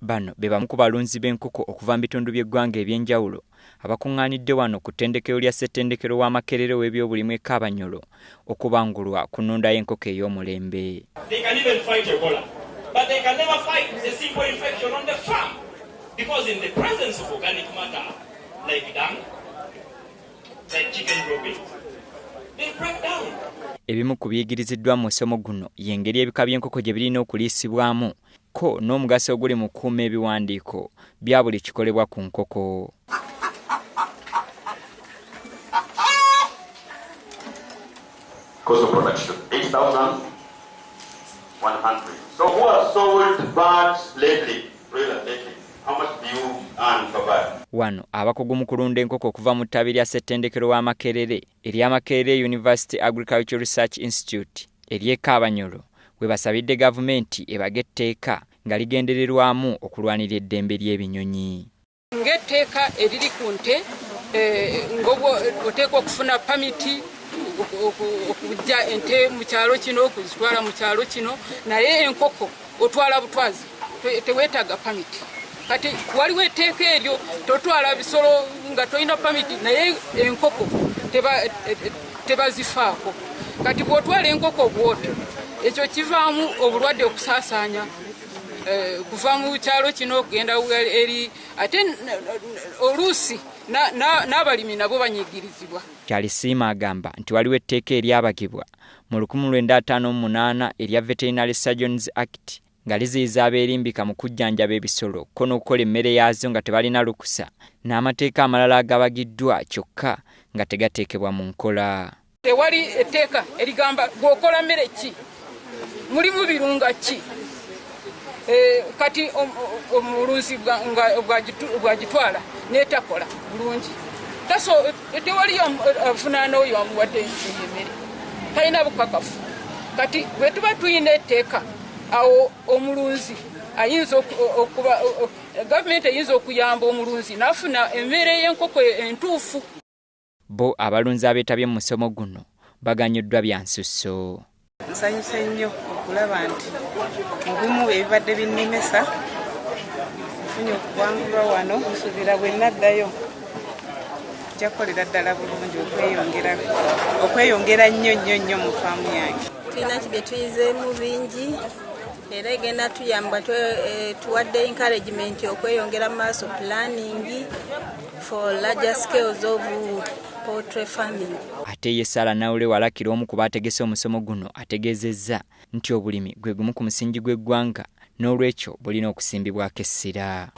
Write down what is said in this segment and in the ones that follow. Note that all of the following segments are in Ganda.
Bano be bamu ku balunzi b'enkoko okuva mu bitundu by'eggwanga eby'enjawulo abakuŋŋaanidde wano ku ttendekero lya Ssettendekero wa Makerere w'ebyobulimi e Kaabanyolo okubangulwa ku nnunda y'enkoko ey'omulembe. Ebimu ku biyigiriziddwa mu musomo guno y'engeri ebika by'enkoko gye birina okuliisibwamu kko n'omugaso oguli mu kukuuma ebiwandiiko bya buli kikolebwa ku nkoko. Wano abakugu mu kulunda enkoko okuva mu ttabi lya Ssettendekero wa Makerere erya Makerere University Agricultural Research Institute ery'e Kaabanyoro we basabidde gavumenti ebage etteeka nga ligendererwamu okulwanirira eddembe ly'ebinyonyi. ng'etteeka eriri ku nte eh, oteekwa okufuna pamiti okujja ente mu kyalo kino okuzitwala mu kyalo kino naye enkoko otwala butwazi teweetaaga pamiti kati waliwo etteeka eryo totwala bisolo nga tolina pamiti naye enkoko tebazifaako kati bw'otwala enkoko bwoti ekyo kivaamu obulwadde okusaasaanya Eh, kuva mu kyalo kino okugenda eri ate oluusi n'abalimi nabo banyigirizibwa kyalisiima agamba nti waliwo etteeka eryabagibwa mu 1958 erya veterinary surgeons act nga liziyiza abeerimbika mu kujjanjaba ebisolo ko n'okukola emmere yaazo nga tebalina lukusa n'amateeka amalala agabagiddwa kyokka nga tegateekebwa mu nkola Tewali etteeka erigamba gwokola mmere ki mulimu birunga ki eh, kati omulunzi bwagitwala netakola bulungi tewali avunaana oyo amuwadde eyemere talina bukakafu kati bwetuba tulina etteeka awo omulunzi ayinza okuba gavumenti eyinza okuyamba omulunzi nafuna emere yenkoko entuufu Bbo abalunzi abeetabye mu musomo guno baganyuddwa bya nsusso. Nsanyuse nnyo okulaba nti mu bimu ebibadde binnemesa nfunye okuwangulwa wano nsuubira bwe naddayo nja kukolera ddala bulungi okweyongera okweyongera nnyo nnyo nnyo mu faamu yange tulina ki bye tuyizeemu bingi era egenda tuyamba eh, tuwadde encouragement okweyongera mu maaso pulaningi Ate ye Sarah Naule Walakira omu ku baategese omusomo guno ategeezezza nti obulimi gwe gumu ku musingi gw'eggwanga n'olwekyo bulina okusimbibwako essira.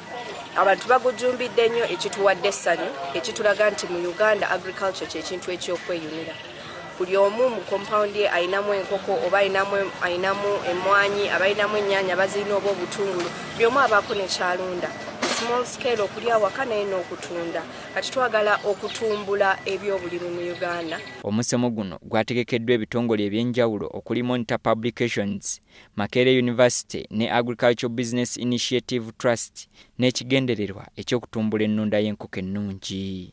Abantu bagujumbidde nnyo ekituwadde essanyu ekitulaga nti mu Uganda agriculture kye kintu eky'okweyunira. buli omu mu compound ye alinamu enkoko oba alinamu alinamu emwanyi aba alinamu ennyanya bazirina oba obutungulu buli omu abaako nekyalunda small scale okuli awaka naye n'okutunda kati twagala okutumbula ebyobulimi mu uganda omusomo guno gwategekeddwa ebitongole ebyenjawulo okuli monitor publications makerere university ne agricultural business initiative trust n'ekigendererwa eky'okutumbula ennunda y'enkoko ennungi.